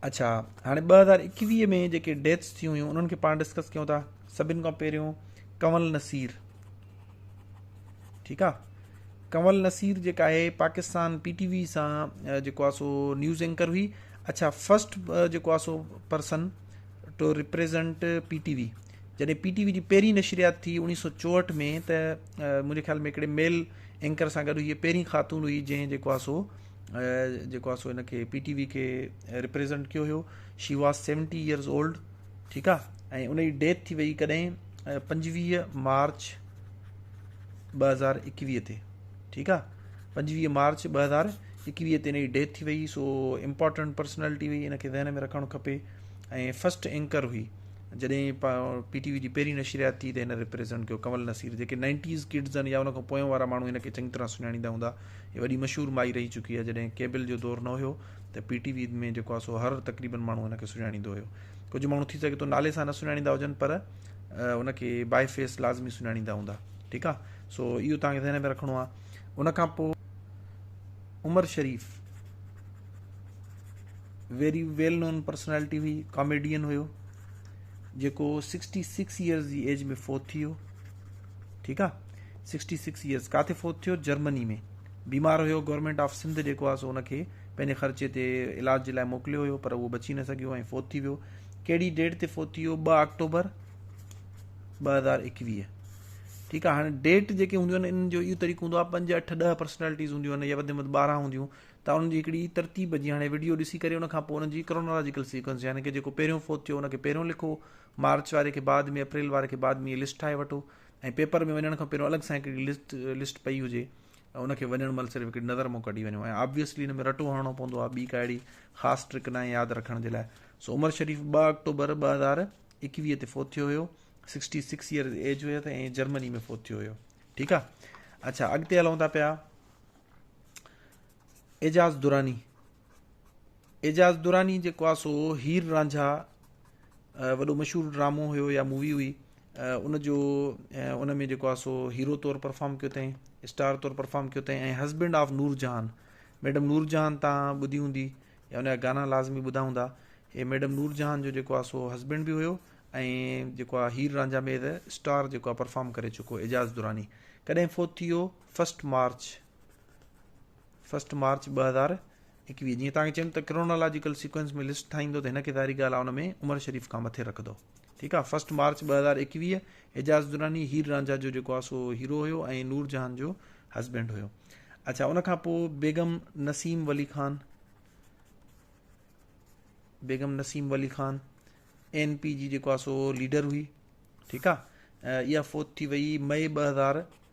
اڇا هاڻي ٻه هزار ايڪويهه ۾ جيڪي ڊيٿس ٿيون هيون انهن کي پاڻ ڊسڪس ڪيون ٿا سڀن کان پهريون ڪنول نصير ٺيڪ آهي ڪنول نصير جيڪا آهي پاڪستان پي ٽي وي سان جيڪو آهي سو نيوز اينڪر هئي اڇا فرسٽ جيڪو آهي سو person to represent P T V جڏهن پي ٽي وي جي پهرين نشريات ٿي انيس سو چوهٺ ۾ ته منهنجي خيال ۾ هڪڙي ميل اينڪر سان گڏ هي پهرين خاتون هئي جنهن جيڪو آهي سو جيڪو سو هن کي پي ٽي وي کي ريپريزنٽ ڪيو هيو she was seventy years old ٺيڪ آ ۽ ان جي ڊيٿ ٿي وئي ڪڏهن پنجويهه مارچ ٻ هزار ايڪويهه تي ٺيڪ آ پنجويهه مارچ ٻ هزار ايڪويهه تي ان جي ڊيٿ ٿي وئي سو امپورٽنٹ پرسنالٽي هئي ان کي ذهن ۾ رکڻ کپي ۽ فسٽ اینکر هئي جڏهن پي ٽي وي جي پهرين نشريات ٿي ته هن ريپريزنٽ ڪيو ڪمل نصير جيڪي نائنٽيز ڪڊز آهن يا ان کان پويان وارا ماڻهو هن کي چڱي طرح سڃاڻيندا هوندا هي وڏي مشهور مائي رهي چڪي آهي، جڏهن ڪيبل جو دور نه هيو ته پي ٽي وي ۾ جيڪو آهي سو هر تقريبن ماڻهو هن کي سڃاڻيندو هيو. ڪجهه ماڻهو ٿي سگهي ٿو نالي سان نه سڃاڻيندا هجن پر ان کي بائي فيس لازمي سڃاڻيندا هوندا ٺيڪ آهي سو اهو توهان کي ذهن ۾ رکڻو آهي ان کان پوء عمر شريف ويري ويل نون پرسنالٽي هئي ڪاميڊين هيو جيڪو سڪسٽي سڪس ايئرز جي ايج ۾ فوت ٿي ويو ٺيڪ آ سڪسٽي سڪس يئرس ڪاٿي فوت ٿيو جرمني ۾ بيمار هيو گورنمنٽ آف سنڌ جيڪو آ سو ان کي پنهنجي خرچي تي علاج جي لاء موڪليو هيو پر اهو بچي نه سگهيو ۽ فوت ٿي ويو کيڙي ڊيٽ تي فوت ٿي ويو ٻ آڪٽوبر ٻ هزار ايڪويهه ٺيڪ آ هاڻي ڊيٽ جيڪي هونديون آهن ان جو اهو طريقو هوندو آهي پنج اٺ ڏه پرسنالٽيز هونديون آهن يا وڌ مٿ ٻارهن هونديون ته ان جي هڪڙي ترتيب جي هاڻي ويڊيو ڏسي ڪري ان کان پوء ان جي ڪرونالاجيڪل سيڪوينس يعني ڪي جيڪو پهريون فوت ٿيو ان کي پهريون لکو مارچ واري کي بعد ۾ اپريل واري کي بعد ۾ لسٽ ٺاهي وٺو ۽ پيپر ۾ وڃڻ کان پهريون الڳ سان هڪڙي لسٽ لسٽ پئي هجي ان کي وڃڻ مهل صرف هڪڙي نظر مون ڪڍي وڃو ۽ آبويسلي ان ۾ رٽو هڻڻو پوندو آهي ٻي ڪا اهڙي خاص ٽرڪ ناهي ياد رکڻ جي لاء سو عمر شريف ٻه آڪٽوبر ٻه هزار اڪويهه تي فوت ٿيو هيو سڪسٽي سڪس ايئرز ايج هيو ته ۽ جرمني ۾ فوت ٿيو هيو ٺيڪ آهي اچھا اڳتي هلون ٿا پيا اعجاز دراني، اعجاز دراني جيڪو آ سو هير رانجها وڏو مشهور ڊرامو هيو يا مووي هئي ان جو ان ۾ جيڪو آ سو هيرو طور پرفارم ڪيو تائين اسٽار طور پرفارم ڪيو تائين ۽ husband of Noor Jahan madam نور جهان تان ٻڌي هوندي يا ان جا گانا لازمي ٻڌا هوندا هي ميڊم نور جهان جو جيڪو آ سو هسبينڊ به هيو ۽ جيڪو آ هير رانجا مير اسٽار جيڪو آ پرفارم ڪري چڪو اعجاز دراني ڪڏهن فوت ٿي ويو فسٽ مارچ فرسٽ مارچ ٻه هزار ايڪويهه جيئن تان چيم ته ڪرونالاجيڪل سيڪوينس ۾ لسٽ ٺاهيندو ته هن کي ظاهري ڳالهه ان ۾ عمر شريف کان مٿي رکندو ٺيڪ آهي فرسٽ مارچ ٻه هزار ايڪويهه اعجاز دراني هير رانجها جو جيڪو آهي سو هيرو هيو ۽ نور جهان جو هسبينڊ هيو اچھا ان کان پوء بيگم نسيم ولي خان بيگم نسيم ولي خان اين پي جي جيڪو آهي سو ليڊر هئي ٺيڪ آهي اها فوت ٿي وئي مئي ٻه هزار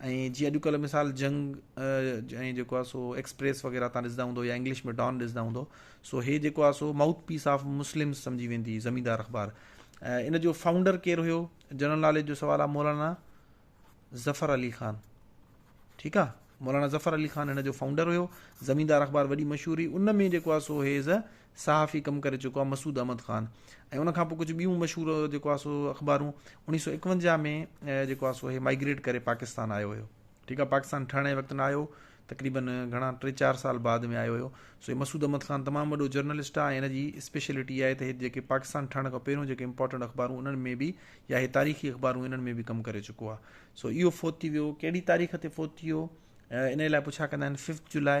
۽ جي اڄڪلهه مثال جنگ ۽ جيڪو آهي سو ايڪسپريس وغيره تان ڏسندا هوندو يا انگلش ۾ ڊان ڏسندا هوندو سو هي جيڪو آهي سو ماؤٿ پيس آف مسلم سمجهي ويندي زميندار اخبار ان جو فائونڊر ڪير هيو جنرل ناليج جو سوال آهي مولانا ظفر علي خان ٺيڪ آ مولانا ظفر علي خان هن جو فائونڊر هيو زميندار اخبار وڏي مشهور هئي ان ۾ جيڪو آهي سو هيز صحافي ڪم ڪري چڪو آ مسعود احمد خان ۽ ان کان پوء ڪجهه ٻيون مشهور جيڪو آ سو اخبارون اڻيهه سؤ اڪونجاهه ۾ جيڪو آ سو هي مائگريٽ ڪري پاڪستان آيو هيو ٺيڪ آ پاڪستان ٺهڻ جي وقت نه آيو تقريبا گهڻا ٽي چار سال بعد ۾ آيو هيو سو هي مسعود احمد خان تمام وڏو جرنلسٽ آ هن جي اسپيشلٽي آهي ته هي جيڪي پاڪستان ٺهڻ کان پهريون جيڪي امپورٽنٽ اخبارون انهن ۾ به يا هي تاريخي اخبارون انهن ۾ به ڪم ڪري چڪو آ سو اهو فوت ٿي ويو ڪهڙي تاريخ تي فوت ٿي ويو ان لاء پڇا ڪندا آهن ففٿ جولاء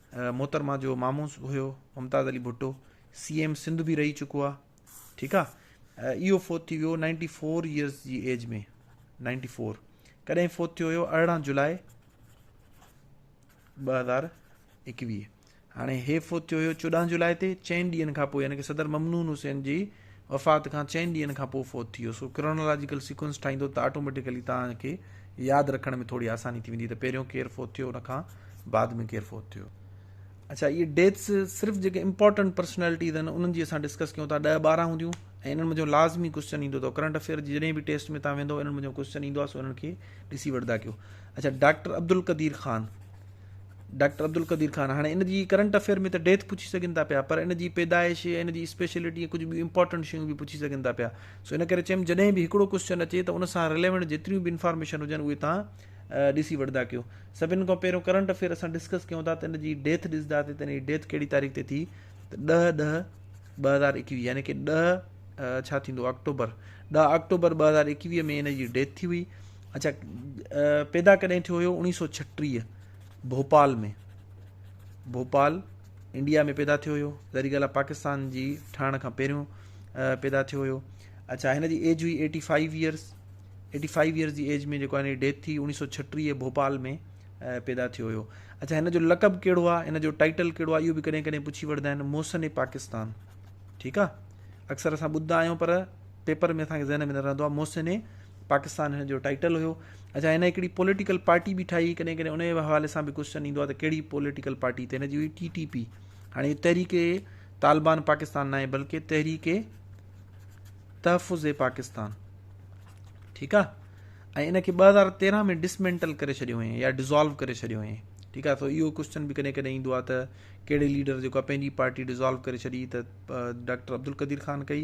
محترمه جو مامو هيو ممتاز علي ڀٽو سي ايم سنڌ به رهي چڪو آ ٺيڪ آ اهو فوت ٿي ويو نائنٽي فور ايئرس جي ايج ۾ نائنٽي فور ڪڏهن فوت ٿيو هيو ارڙهن جولاء ٻه هزار ايڪويهه هاڻي هي فوت ٿيو هيو چوڏهن جولاء تي چئن ڏينهن کان پوء يعنی صدر ممنون حسين جي وفات کان چئن ڏينهن کان پوء فوت ٿي ويو. سو ڪرونالاجيڪل سيڪوئنس ٺاهيندو ته آٽوميٽيڪلي توهان کي ياد رکڻ ۾ ٿوري آساني ٿي ويندي ته پهريون ڪير فوت ٿيو ان کان بعد ۾ ڪير فوت ٿيو. اڇا اهي ڊيٿس صرف جيڪي امپورٽنٽ پرسنالٽيز آهن انهن جي اسان ڊسڪس ڪيون ٿا ڏهه ٻارهن هونديون ۽ انهن منجهو لازمي ڪوسچن ايندو اٿو ڪرنٽ افيئر جي جڏهن به ٽيسٽ ۾ توهان ويندو انهن منجهو ڪوسچن ايندو آهي سو انهن کي ڏسي وٺدا ڪيو. اڇا ڊاڪٽر عبدالقدير خان. ڊاڪٽر عبدالقدير خان هاڻي ان جي ڪرنٽ افيئر ۾ ته ڊيٿ پڇي سگهن ٿا پيا پر ان جي پيدائش ۽ ان جي اسپيشلٽي ۽ ڪجهه ٻيون امپارٽنٽ شيون به پڇي سگهن ٿا پيا سو ان ڪري چيم جڏهن به هڪڙو ڪوسچن اچي ته ان سان رليونٽ جيتريون به انفارميشن هجن اهي تان ڏسي وٺندا ڪيو سڀن کان پهريون ڪرنٽ افيئر اسان ڊسڪس ڪيون ٿا ته ان جي ڊيٿ ڏسندا ته ان جي ڊيٿ کي تاريخ تي ٿي ته ڏهه ڏهه ٻه هزار ايڪويهه يعني ڪي ڏهه ڇا ٿيندو آڪٽوبر ڏهه آڪٽوبر ٻه هزار ايڪويهه ۾ هن جي ڊيٿ ٿي هئي اچا پيدا ڪڏهن ٿيو هيو اوڻيهه سو ڇٽيهه ڀوپال ۾ ڀوپال انڊيا ۾ پيدا ٿيو هيو ظاهري ڳالهه پاڪستان جي ٺهڻ کان پهريون پيدا ٿيو هيو اچھا هن جي ايج هئي eighty five years eighty five years جي ايج ۾ جيڪو هن جي ڊيٿ ٿي اوڻيهه سو ڇٽيهه ڀوپال ۾ پيدا ٿيو هيو اچھا هن جو لقب کيڙو آ هن جو ٽائيٽل کيڙو آ يو به ڪڏهن ڪڏهن پڇي وڙدا آهن موسن پاڪستان ٺيڪ آ اڪثر اسان ٻڌدا آهيون پر پيپر ۾ اسان کي ذهن ۾ نه رهندو آهي محسن پاڪستان هن جو ٽائيٽل هيو اچا هن هڪڙي پوليٽيڪل پارٽي به ٺاهي ڪڏهن ڪڏهن ان جي حوالي سان به ڪوشچن ايندو آهي ته ڪهڙي پوليٽيڪل پارٽي ته هن جي هئي ٽي ٽي پي هاڻي تحريڪ طالبان پاڪستان ناهي بلڪه تحريڪ تحفظ پاڪستان ٺيڪ آ ۽ ان کي ٻه هزار تيرهن ۾ ڊسمينٽل ڪري ڇڏيو هيئن يا ڊزالو ڪري ڇڏيو هيئن ٺيڪ آ سو اهو ڪوشچن به ڪڏهن ڪڏهن ايندو آ ته ڪهڙي ليڊر جيڪو پنهنجي پارٽي ڊزالو ڪري ڇڏي ته ڊاڪٽر عبدالقدير خان ڪئي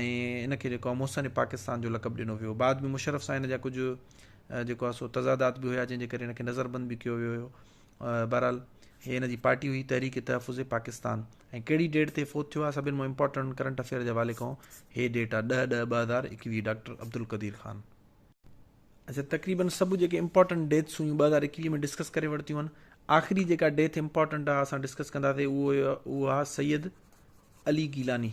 ۽ ان کي جيڪو آهي محسن پاڪستان جو لقب ڏنو ويو هو بعد ۾ مشرف سان هن جا ڪجهه جيڪو آهي سو تضادات به هيا جنهن جي ڪري هن کي نظر بند به ڪيو ويو هيو بهرحال هي هن جي پارٽي هئي تحريڪ تحفظ پاڪستان ۽ کهڙي ڊيٽ تي فوت ٿيو آهي سڀني مان امپورٽنٽ ڪرنٽ افيئر جي حوالي کان هي ڊيٽ آهي ڏهه ڏهه ٻه هزار ايڪويهه ڊاڪٽر عبدالقدير خان اچھا تقريبن سڀ جيڪي امپورٽنٽ ڊيٿس هيون ٻه هزار اڪويهه ۾ ڊسڪس ڪري ورتيون آهن آخري جيڪا ڊيٿ امپورٽنٽ آهي اسان ڊسڪس ڪنداسي اهو اهو آهي سيد علي گيلاني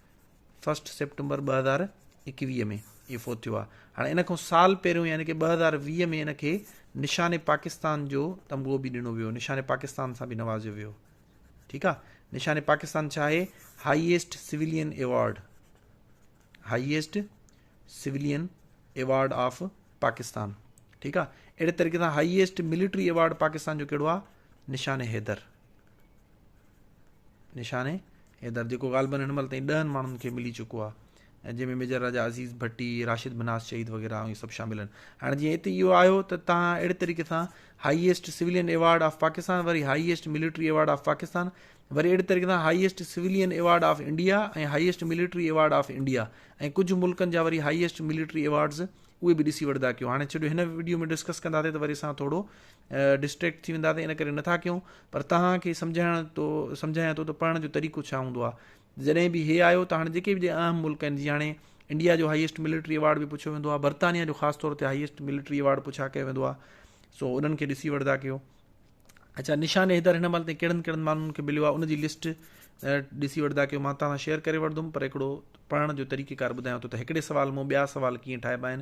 فرسٽ سيپٽمبر ٻه هزار ايڪويهه ۾ اهي فوت ٿيو آهي هاڻي ان کان سال پهريون يعني ڪي ٻه هزار ويهه ۾ ان کي نشان پاڪستان جو تمغو به ڏنو ويو نشان پاڪستان سان به نوازيو ويو ٺيڪ آ نشان پاڪستان ڇا آهي highest civilian award highest civilian award of Pakistan ٺيڪ آ اهڙي طريقي سان هائيسٽ ملٽري ايوارڊ پاڪستان جو ڪهڙو آ نشان حيدر نشاني حيدر جيڪو غالبن هن مهل تائين ڏهن ماڻهن کي ملي چڪو آهي ۽ جنهن ۾ ميجر راجا عزيز ڀٽي راشد بناس شهيد وغيرہ اهي سڀ شامل آهن هاڻي جيئن هتي اهو آيو ته تان اهڙي طريقي سان highest civilian award of Pakistan وري highest military award of Pakistan وري اهڙي طريقي سان highest civilian award of India ۽ highest military award of India ۽ ڪجهه ملڪن جا وري هائيسٽ ملٽري ايوارڊز اهي به ڏسي وٺندا ڪيو هاڻي ڇڏيو هن ويڊيو ۾ ڊسڪس ڪنداسي ته وري اسان ٿورو ڊسٽريڪٽ ٿي ويندا ته ان ڪري نٿا ڪيون پر توهان کي سمجهائڻ تو سمجهايان ٿو ته پڙهڻ جو طريقو ڇا هوندو آهي جڏهن به هي آيو ته هاڻي جيڪي به اهم ملڪ آهن جي هاڻي انڊيا جو هائيسٽ ملٽري اوارڊ به پڇيو ويندو آهي برطانيا جو خاص طور تي هائيسٽ ملٽري اوارڊ پڇا ڪيو ويندو آهي سو انهن کي ڏسي وٺندا ڪيو اچھا نشان حيدر هن مهل تائين ڪهڙن ڪهڙن ماڻهن کي مليو آهي ان جي لسٽ ڏسي وٺندا ڪيو مان توهان سان شيئر ڪري وٺندم پر هڪڙو پڙهڻ جو طريقيڪار ٻڌايان ٿو ته هڪڙي سوال مون ٻيا سوال ڪيئن ٺاهبا آهن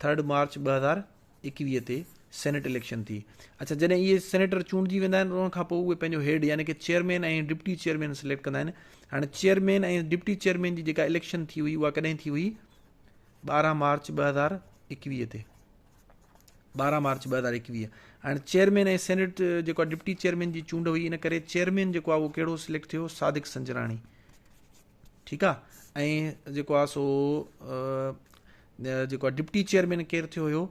ٿرڊ مارچ ٻه هزار ايڪويهه تي سينيٽ اليڪشن ٿي اڇا جڏهن اهي سينيٽر چونڊجي ويندا آهن ان کانپوء اهي پنهنجو هيڊ يعني ڪي چيئرمين ۽ ڊپٽي چيئرمين سليڪٽ ڪندا آهن هاڻي چيئرمين ۽ ڊپٽي چيئرمين جي جيڪا اليڪشن ٿي هئي اها ڪڏهن ٿي هئي ٻارهن مارچ ٻه هزار ايڪويهه تي ٻارهن مارچ ٻه هزار ايڪويهه هاڻي چيئرمين ۽ سينيٽ جيڪو ڊپٽي چيئرمين جي چونڊ هئي ان ڪري چيئرمين جيڪو آهي اهو ڪهڙو سليڪٽ ٿيو صادق سنجراڻي ٺيڪ آ ۽ جيڪو آ سو جيڪو ڊپٽي چيئرمين ڪير ٿيو هيو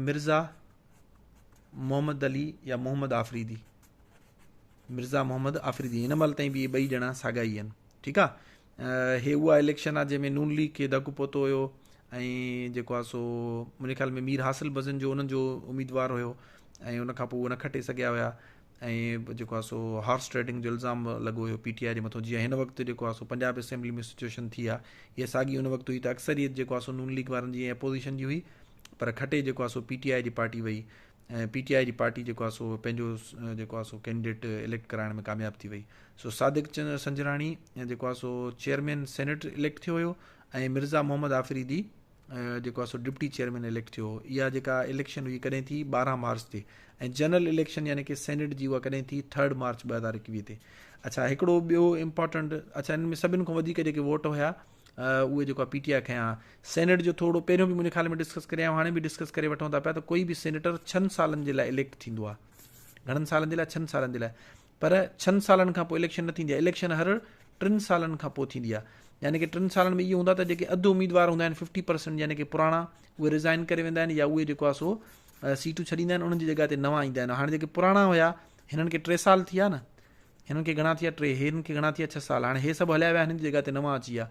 مرزا محمد علي يا محمد آفريدي مرزا محمد آفريدي هن مهل تائين به ٻئي ڄڻا ساڳا ئي آهن ٺيڪ آ هي اها اليڪشن آ جنهن ۾ نون ليگ کي دڪ پهتو هيو ۽ جيڪو آ سو منهنجي خيال ۾ مير حاصل بزن جو انهن جو اميدوار هيو ۽ ان کان پوء هو نه کٽي سگهيا هيا ۽ جيڪو آهي سو هارس ٽريڊنگ جو الزام به لڳو هيو پي ٽي آء جي مٿو جيئن هن وقت جيڪو آهي سو پنجاب اسيمبلي ۾ سچويشن ٿي آهي اها ساڳي ان وقت هئي ته اڪثريت جيڪو آهي سو نون ليگ وارن جي ۽ اپوزيشن جي هئي پر کٽي جيڪو آهي سو پي ٽي آء جي پارٽي وئي ۽ پي ٽي آء جي پارٽي جيڪو آهي سو پنهنجو جيڪو آهي سو ڪينڊيڊيٽ اليڪٽ ڪرائڻ ۾ ڪامياب ٿي وئي سو صادق چند سنجراڻي جيڪو آهي سو چيئرمين سينيٽ اليڪٽ ٿيو هيو ۽ مرزا محمد آفريدي جيڪو آهي سو ڊپٽي چيئرمين اليڪٽ ٿيو اها جيڪا اليڪشن هئي ڪڏهن ٿي ٻارهن مارچ تي ۽ جنرل اليڪشن يعني کی سينيٽ جي اها ڪڏهن ٿي ٿرڊ مارچ ٻه هزار اڪويهه تي اچھا هڪڙو ٻيو امپورٽنٽ اچھا ان ۾ سڀن کان وڌيڪ جيڪي ووٽ هيا اهي جيڪو پي ٽي آء کنيا سينيٽ جو ٿورو پهريون به منهنجي خيال ۾ ڊسڪس ڪري هاڻي به ڊسڪس ڪري وٺون ٿا پيا ته ڪوئي به سينيٽر ڇهن سالن جي لاء اليڪٽ ٿيندو آهي گھڻن سالن جي لاء ڇهن سالن جي لاء پر ڇھن سالن کان پوء اليڪشن نه ٿيندي آھي، اليڪشن ھر ٽن سالن کان پوء ٿيندي آھي، يعني ڪي ٽن سالن ۾ اھو ھوندو آھي ته جيڪي اڌ اميدوار ھوندا آھن ففٽي پرسنٽ يعني ڪي پراڻا اھي رزائن ڪري ويندا آھن يا اھي جيڪو آھي سو سيٽون ڇڏيندا آھن انھن جي جڳھ تي نوان ايندا آھن، ھاڻ جيڪي پراڻا ھيا ھنن کي ٽي سال ٿيا نه، ھنن کي گھڻا ٿيا ٽي، ھنن کي گھڻا ٿيا ڇھھ سال، ھاڻ ھي سڀ ھليا ويا ھنن جي جڳھ تي نوان اچي ويا،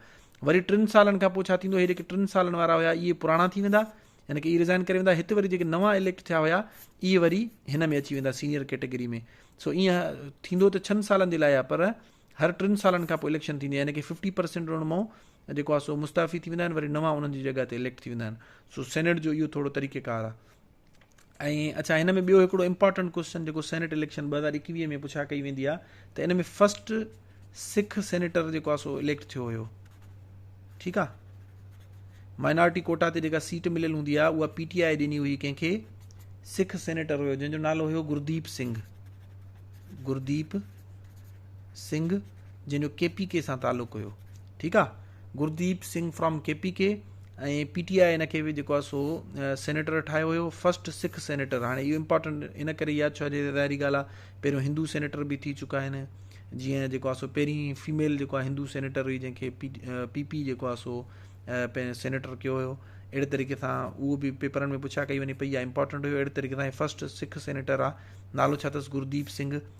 وري ٽن سالن کان پوء ڇا ٿيندو ھي جيڪي ٽن سالن وارا ھيا اھي پراڻا ٿي ويندا يعني ڪي اي ريزائن ڪري ويندا هت وري جيڪي نوان اليڪٽ ٿيا هيا اي وري هن ۾ اچي ويندا سينيئر ڪيٽيگري ۾ سو اي ٿيندو ته ڇهن سالن جي لاء آهي پر هر ٽن سالن کان پوء اليڪشن ٿيندي يعني ڪي ففٽي پرسينٽ رون مئو جيڪو آهي سو مستعفي ٿي ويندا آهن وري نوان انهن جي جڳهه تي اليڪٽ ٿي ويندا آهن سو سينيٽ جو اهو ٿورو طريقيڪار آهي ۽ اڇا هن ۾ ٻيو هڪڙو امپارٽنٽ ڪوسچن جيڪو سينيٽ اليڪشن ٻه هزار ايڪويهه ۾ پڇا ڪئي ويندي آ ته ان ۾ فرسٽ سک سينيٽر جيڪو آ سو اليڪٽ ٿيو هيو ٺيڪ آ مائنارٽي ڪوٽا تي جيڪا سيٽ مليل هوندي آ اها پي ٽي آئي ڏني هئي ڪنهن کي سک سينيٽر هيو جنهن جو نالو هيو گرديپ سنگھ گرديپ سنگھ جنهن جو ڪي پي ڪي سان تعلق هيو ٺيڪ آ Gurdeep Singh from K P K ۽ P T I ان کي به جيڪو آهي سو سينيٽر ٺاهيو هيو فرسٽ سک سينيٽر هاڻي اهو امپارٽنٽ ان ڪري ياد ڇو جي ظاهري ڳالهه آهي پهريون هندو سينيٽر به ٿي چڪا آهن جيئن جيڪو آهي سو پهرين فيميل جيڪو آهي هندو سينيٽر هئي جنهن کي پي پي پي جيڪو آهي سو پنهنجو سينيٽر کيو هيو اهڙي طريقي سان اهو به پيپرن ۾ پڇا ڪئي وڃي پئي يا امپارٽنٽ هيو اهڙي طريقي سان فرسٽ سک سينيٽر آهي نالو ڇا اٿس گرديپ سنگهه